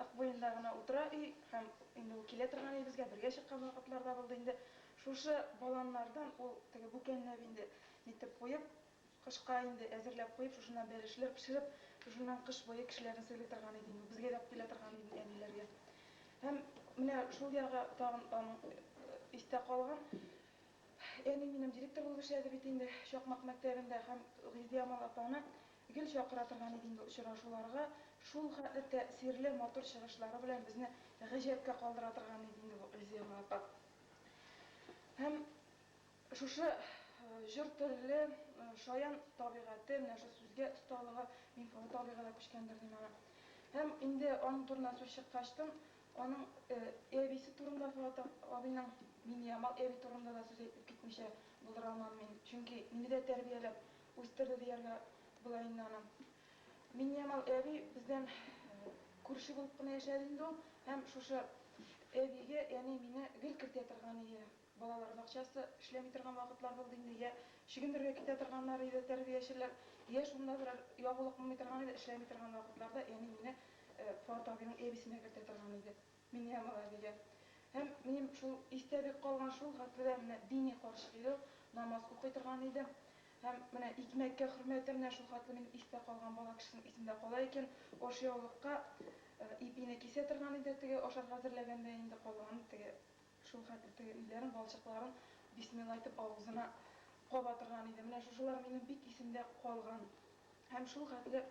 Ык буенда гына утыра өй һәм инде ул килә торган өебезгә бергә чыккан вакытлар да булды инде. Шушы баланнардан ул теге бүкәнләп инде нитеп куеп, кышка инде әзерләп куеп, шушыннан бәлешләр пешереп, шушыннан кыш буе кешеләрне сыйлый торган иде инде ул. Безгә дә алып килә торган иде инде әниләргә. Һәм менә шул ягы тагын аның истә калган. Әни минем директор булып эшләде бит инде Чакмак мәктәбендә һәм Гөлидиамал апаны Гел чакыра торган иде инде очрашуларга, шул хәтле тәэсирле, матур чыгышлары белән безне гаҗәпкә калдыра торган иде инде бу Эльзира апа. Һәм шушы җор телле, шаян табигате, менә шушы сүзгә осталыгы мине олы табигый да күчкәндер дим аңа. Һәм инде аның турыннан сүз чыккачтын, аның әбисе турында Фоатов абыйның, Миңнеямал әби турында да сүз әйтеп китмичә булдыра алмам мин. Чөнки мине дә тәрбияләп, Үстерде дияргә була инде аны. Миннеямал әби бездән күрше булып кына яшәде инде ул һәм шушы әбигә әни мине гел кертә торган иде. Балалар бакчасы эшләми торган вакытлар булды инде, йә чөгендергә китә торганнар иде тәрбиячеләр, йә шунда берәр ягулык булмый торган иде, эшләми торган вакытларда әни мине Фоат абыйның әбисенә кертә торган иде. Мин һәм Равилә. Һәм минем шул истә бик калган шул хәтледә менә дини карчык иде ул, намаз укый торган иде. Һәм менә икмәккә хөрмәте менә шул хәтле минем истә калган бала кешесенең исендә кала икән, ашъяулыкка ипине кисә торган иде теге ашарга әзерләгәндә инде калган теге Шул хәтле теге өйләрен, балчыкларын бисмилла әйтеп авызына каба торган иде. Менә шушылар минем бик исемдә калган. Һәм шул хәтле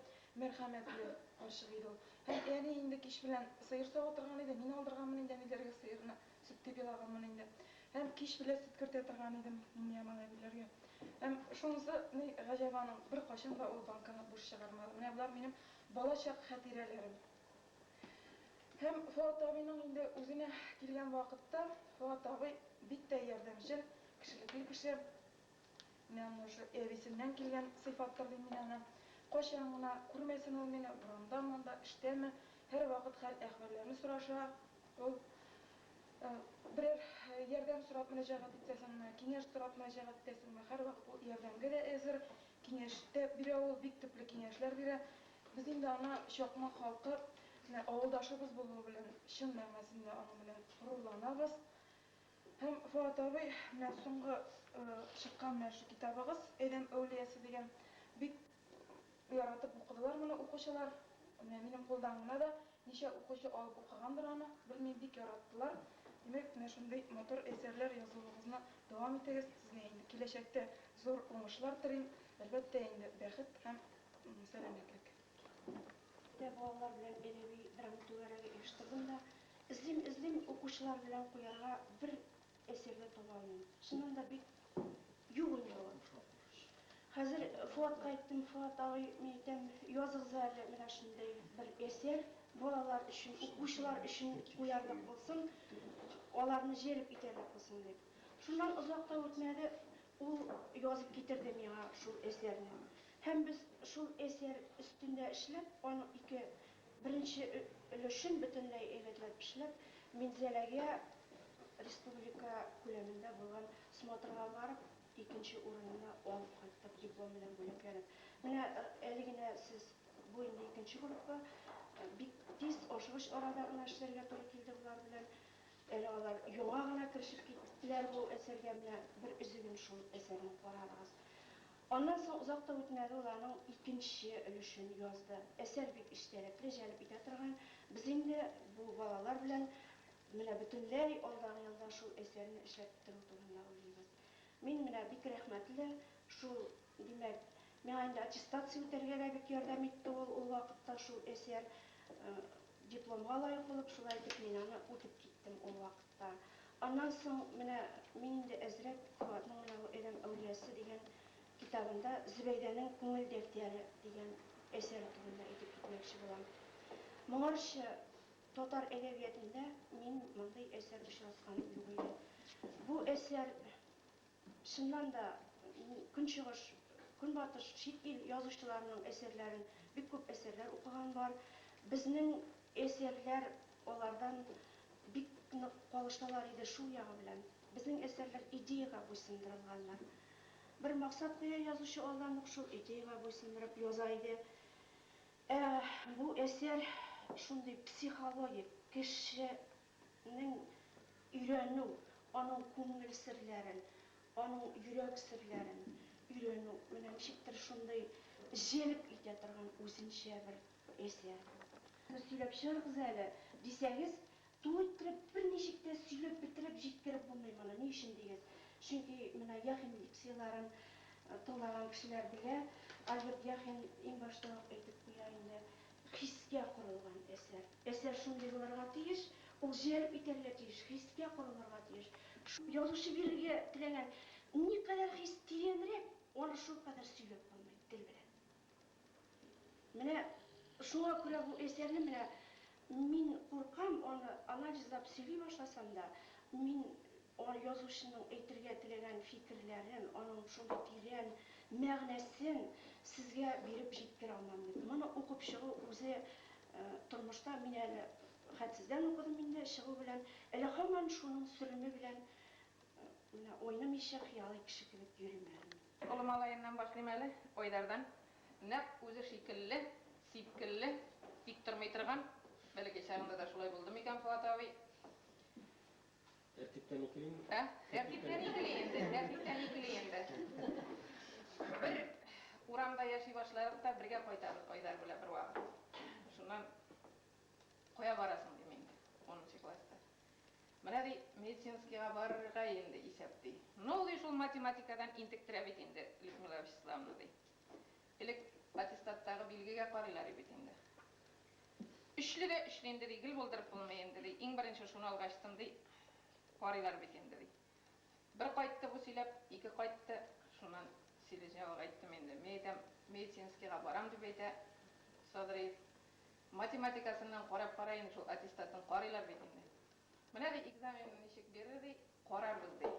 мәрхәмәтле карчык иде ул. Һәм әни инде кич белән сыер сава торган иде. Мин алдырганмын инде әниләргә сыерны, сөт дип елаганмын инде. Һәм кич белән сөт кертә торган идем Миңниямал әбиләргә. Һәм шунысы ни гаҗәп аның, беркайчан да ул банкага буш чыгармады. Менә болар минем балачак хәтирәләрем. Һәм Фоат абыйның инде үзенә килгән вакытта, Фоат абый бик тә ярдәмчел, кешелекле кеше. Менә аны шул әбисеннән килгән сыйфаттыр дим мин аны. Кайчан гына күрмәсен ул мине, урамдамы-монда, эштәме, һәрвакыт хәл-әхвәлләрне сораша ул. Берәр ярдәм сорап мөрәҗәгать итәсеңме, киңәш сорап мөрәҗәгать итәсеңме, һәрвакыт ул ярдәмгә дә әзер. Киңәш тә бирә ул, бик төпле киңәшләр бирә. Без инде аны Чакма халкы менә авылдашыбыз булуы белән чын мәгънәсендә аның белән горурланабыз. Һәм Фоат абый, менә соңгы чыккан менә шул китабыгыз, Әйләм әүлиясе дигән, бик яратып укыдылар моны укучылар. Менә минем кулдан гына да Ничә укучы алып укыгандыр аны, белмим, бик яраттылар. Димәк, менә шундый матур әсәрләр язуыгызны дәвам итегез, сезгә инде киләчәктә зур уңышлар телим, әлбәттә инде, бәхет һәм сәламәтлек. Дә балалар белән әдәби-драма түгәрәге оештырдым да, эзлим-эзлим, укучылар белән куярга бер Әсиргә таба мин. Чыннан да бик юк инде ул. Хәзер Фоатка әйттем, Фоат абый, мин әйтәм, языгыз әле менә шундый бер әсәр, балалар өчен, укучылар өчен куярлык булсын, аларны җәлеп итәрлек булсын дип. Шуннан озак та үтмәде, ул язып китерде миңа шул әсәрне. Һәм без шул әсәр өстендә эшләп, аның ике Беренче өлешен бөтенләй әйбәтләп эшләп, Минзәләгә республика күләмендә булган смотрга барып, икенче урынны алып кайттык, диплом белән бүләкләнеп. Менә әле генә сез, бу инде икенче группа, бик тиз, ашыгыч арада гына эшләргә туры килде болар белән. Әле алар яңа гына керешеп киттеләр бу әсәргә, менә бер өзеген шул әсәрнең карарыгыз. Аннан соң озак та үтмәде, ул аның икенче өлешен язды. Әсәр бик эчтәлекле, җәлеп итә торган. Без инде бу балалар белән менә бөтенләй алдагы елда шул әсәрне эшләп бетерү турында уйлыйбыз. Мин менә бик рәхмәтле шул, димәк, миңа инде аттестация үтәргә дә бик ярдәм итте ул, ул вакытта шул әсәр. Дипломга лаек булып, шулай итеп мин аны үтеп киттем ул вакытта. Та. Аннан соң менә мин инде әзрәк Фоатның менә бу Әдәм әүлиясе дигән китабында Зөбәйдәнең күңел дәфтәре дигән әсәре турында әйтеп китмәкче булам. Моңарчы татар әдәбиятында мин мондый әсәр очратканым юк иде. Бу әсәр Чыннан да, Көнчыгыш, Көнбатыш, чит ил язучыларының әсәрләрен бик күп әсәрләр укыган бар. Безнең әсәрләр алардан бик нык калышалар иде шул ягы белән. Безнең әсәрләр идеягә буйсындырылганнар. Бер максат куя язучы алдан ук, шул идеягә буйсындырып яза иде. Ә бу әсәр шундый психологик, кеше Нең өйрәнү, аның күңел серләрен, аның йөрәк серләрен өйрәнү менә ничектер шундый җәлеп итә торган үзенчә бер әсәр бу. Сөйләп чыгарыгыз әле, дисәгез, тулы иттереп, берничек тә сөйләп бетереп җиткереп булмый моны. Ни өчен дигез, чөнки менә Яхин лекцияләрен тыңлаган кешеләр белә, Альберт Яхин иң башта ук әйтеп куя инде, Хискә корылган әсәр. Әсәр шундый булырга тиеш, ул җәлеп итәргә тиеш, хискә корылырга тиеш. Шул язучы бирергә теләгән никадәр хис тирәнрәк, аны шулкадәр сөйләп булмый тел белән. Менә шуңа күрә бу әсәрне менә мин куркам, аны анализлап сөйли башласам да, мин Ар язучының әйтергә теләгән фикерләрен, аның шундый тирән мәгънәсен сезгә биреп җиткерә алмам бит. Моны укып чыгу үзе тормышта, мин әле хәт сездән укыдым инде, чыгу белән, әле һаман шуның сөреме белән менә уйнымыйча, хыялый кеше кебек йөрим әле мин. Олы малаемнан башлыйм әле, Айдардан. Нәкъ үзе шикелле, сипкелле, тик тормый торган. Бәләкәй чагында да шулай булдымы икән, Фоат абый? Тәртиптә микли инде? Ә? Тәртиптә микли инде, тәртиптә микли инде. Бер урамда яши башлыйк та, бергә кайтабыз Айдар белән бервакыт. Шуннан, Кая барасың, дим инде, унынчы класста. Менә, ди, медицинскийга барырга инде исәп, ди. Ну, ди, шул математикадан интектерә бит инде Людмила Вячеславовна, ди. Элек аттестаттагы билгегә карыйлар и бит инде. Өчле дә өчле инде, ди, гел булдырып булмый инде, ди, иң беренче шуны алгачтын, ди, карыйлар бит инде, ди. Бер кайтты бу сөйләп, ике кайтты, шуннан Селезнёвага әйттем инде. Мин әйтәм, медицинскийга барам, дип әйтә Садриев. Математикасыннан карап кара инде шул аттестатын, карыйлар бит инде. Менә, ди, экзаменны ничек бирер, ди, карарбыз, ди.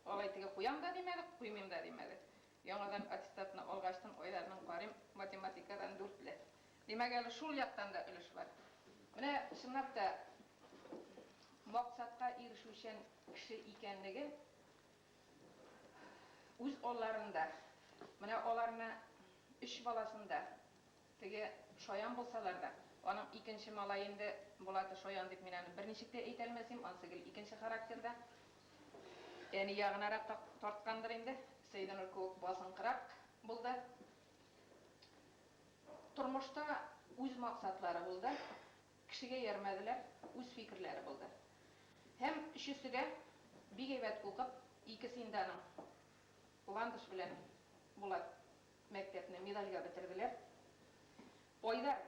Алай-тегә куям да димәде, куймыйм да димәде. Яңадан аттестатны алгачтын Айдарның Карим математикадан дүртле. Димәк, әле шул яктан да өлеш бар. Менә чынлап та максатка ирешүчән кеше икәнлеге үз алларында, менә аларны өч баласын да Теге шаян булсалар да, аның икенче малае инде Булаты шаян дип мин аны берничек тә әйтә алмасим, ансы гел икенче характерда. Әни ягынарак та тарткандыр инде, Сәйдәнур кеүек басынкырак булды. Тормышта үз максатлары булды, кешегә иярмәделәр, үз фикерләре булды. Һәм өчесе дә бик әйбәт укып, икесе инде аның, Ландыш белән Булат, Мәктәпне медальгә бетерделәр. Айдар,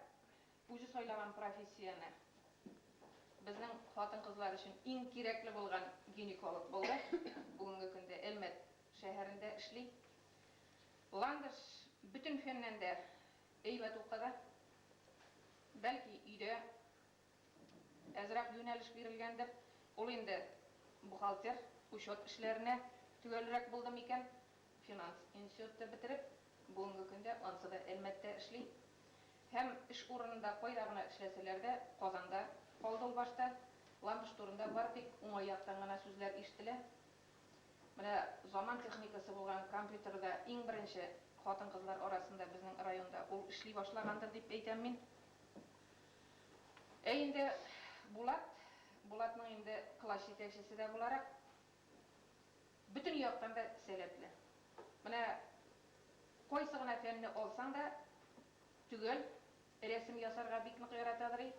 үзе сайлаган профессияне, безнең хатын-кызлар өчен иң кирәкле булган гинеколог булды. Бүгенге көндә Әлмәт шәһәрендә эшли. Ландыш бөтен фәннән дә әйбәт укыды. Бәлки, өйдә Әзрәк юнәлеш бирелгәндер. Ул инде бухгалтер, учет эшләренә төгәлрәк булды микән? Финанс институтты бетереп, бүгенге көндә ансы да Әлмәттә эшли. Һәм эш урынында кайда гына эшләсәләр дә, Казанда калды ул башта. Ландыш турында бары тик уңай яктан гына сүзләр ишетелә. Менә заман техникасы булган компьютерда иң беренче хатын-кызлар арасында безнең районда ул эшли башлагандыр дип әйтәм мин. Ә инде Булат, Булатның инде класс җитәкчесе дә буларак, бөтен яктан да сәләтле. Менә кайсы гына фәнне алсаң да төгәл, рәсем ясарга бик нык яратадыр и.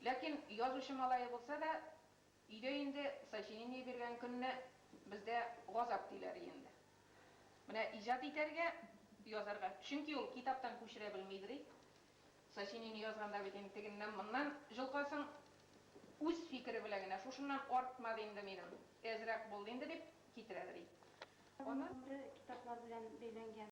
Ләкин язучы малае булса да, өйдә инде сочинение биргән көнне бездә газап диләр и инде. Менә иҗат итәргә, язарга, чөнки ул китаптан күчерә белмидер и. Сочинение язганда бит инде тегеннән-моннан җолкасың, үз фикере белән генә, шушыннан артма ди инде минем, әзрәк булды инде, дип китерәдер ич. Аның гомере китаплар белән бәйләнгән.